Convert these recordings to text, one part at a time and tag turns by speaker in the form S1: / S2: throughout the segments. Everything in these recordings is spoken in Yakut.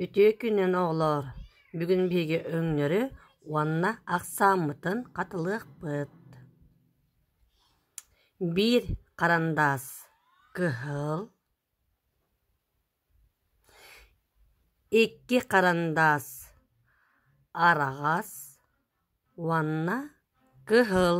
S1: Үтүө күнүн, оҕолоор! Бүгүн биһиги өҥнөрү уонна ахсааммытын хатылыахпыт. Биир харандаас кыһыл, икки харандаас араҕас уонна кыһыл.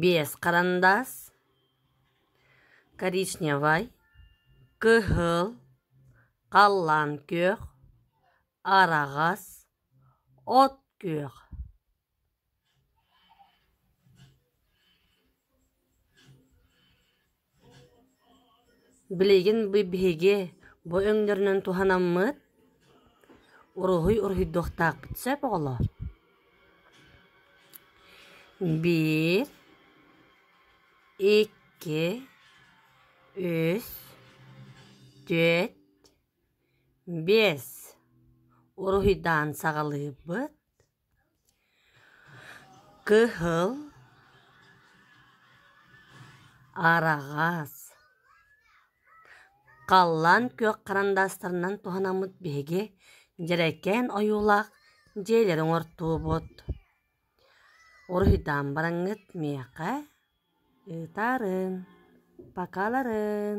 S1: Биэс харандаас, коричневай, кыһыл, халлаан күөх, араҕас, от күөх Билигин биһиги бу өҥнөрүнэн туһанаммыт, уруһуй уруһуйдуохтаахпыт сөп оҕолоор? Биир, икки, үс, түөрт, биэс уруһуйдаан саҕалыыбыт. Кыһыл араҕас халлаан күөх харандаастарынан туһанаммыт биһиги дьэрэкээн ойуулаах дьиэлэри оҥортуубут. Уруһуйдаан бараҥҥыт миэхэ ыытаарын, покаларын